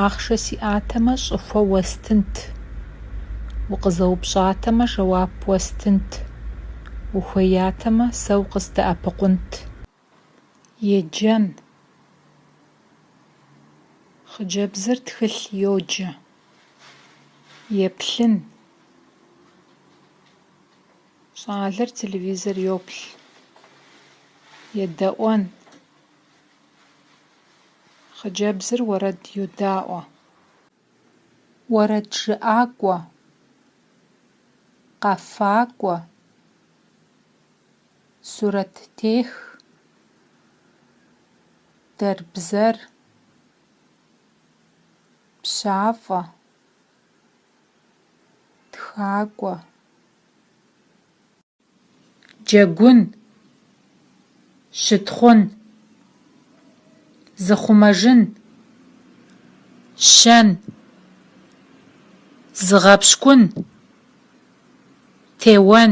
Ахъшэ сиӏатэмэ, щӏыхуэ уэстынт. Укъызэупщӏатэмэ, жэуап уэстынт. Ухуеятэмэ, сэ укъыздэӏэпыкъунт. Еджэн. Хъыджэбзыр тхылъ йоджэ. Еплъын. Щӏалэр телевизор йоплъ. Едэӏуэн. Хъыджэбзыр уэрэд йодаӏуэ. Уэрэджыӏакӏуэ, къэфакӏуэ, сурэттех, дэрбзэр, пщафӏэ, тхакӏуэ. Джэгун, щытхъун, зыхъумэжын, щэн, зыгъэпщкӏун, теуэн.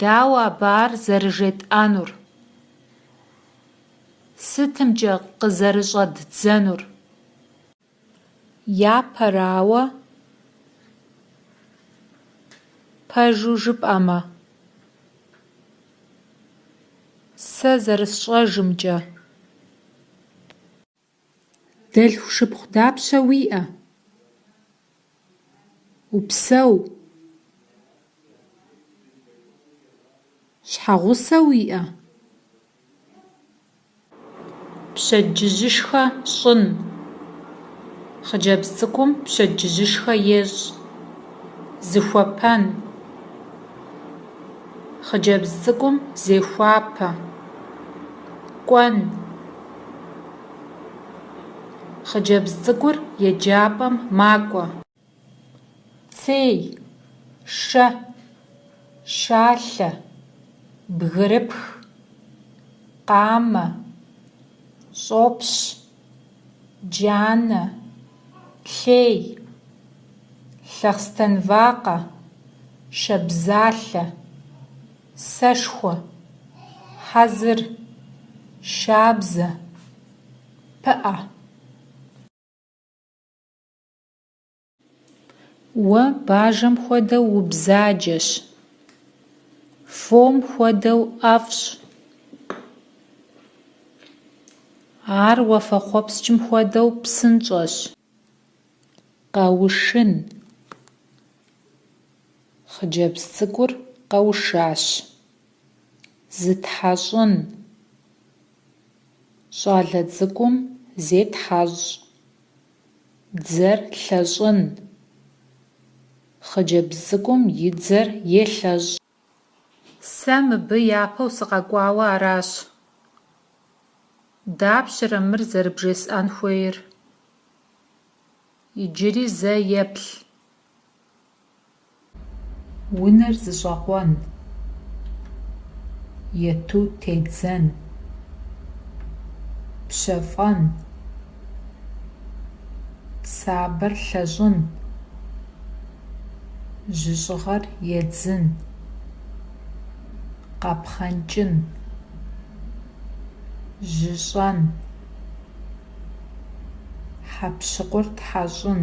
Дауэ абы ар зэрыжетӏэнур? Сытымкӏэ къызэрыщӏэддзэнур? Япэрауэ, пэжу жыпӏэмэ, сэ зэрысщӏэжымкӏэ. Дэлъху шыпхъу дапщэ уиӏэ? Упсэу. Щхьэгъусэ уиӏэ? Пщэдджыжьышхэ щӏын. Хъыджэбз цӏыкӏум пщэдджыжьышхэ ещӏ. Зыхуэпэн. Хъыджэбз цӏыкӏум зехуапэ. Кӏуэн. Хъыджэбз цӏыкӏур еджапӏэм макӏуэ. Цей, шэ, шалъэ, бгырыпх, къамэ, щӏопщ, джанэ, лъей, лъэхъстэнвакъэ, шабзалъэ. Сэшхуэ, хьэзыр, шабзэ, пыӏэ. Уэ бажэм хуэдэу убзаджэщ. Фом хуэдэу ӏэфӏщ. Ар уафэхъуэпскӏым хуэдэу псынщӏэщ. Къэушын. Хъыджэбз цӏыкӏур къэушащ. Зытхьэщӏын. Щӏалэ цӏыкӏум зетхьэщӏ. Дзэр лъэщӏын. Хъыджэбз цӏыкӏум и дзэр елъэщӏ. Сэ мыбы япэу сыкъэкӏуауэ аращ. Дапщэрэ мыр зэрыбжесӏэн хуейр? Иджыри зэ еплъ. Унэр зыщӏэкъуэн. Ету тедзэн. Пщэфӏэн. Сабэр лъэщӏын, жьыщӏыгъэр едзын, къэпхъэнкӏын, жьыщӏэн, хьэпщыкъур тхьэщӏын.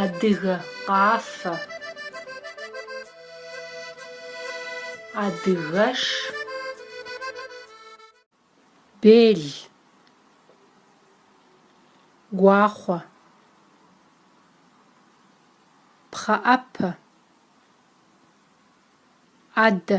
Адыгэ къафэ. Адыгэш. Бел. Гуахъуэ. Пхъэӏэпэ. ӏэдэ.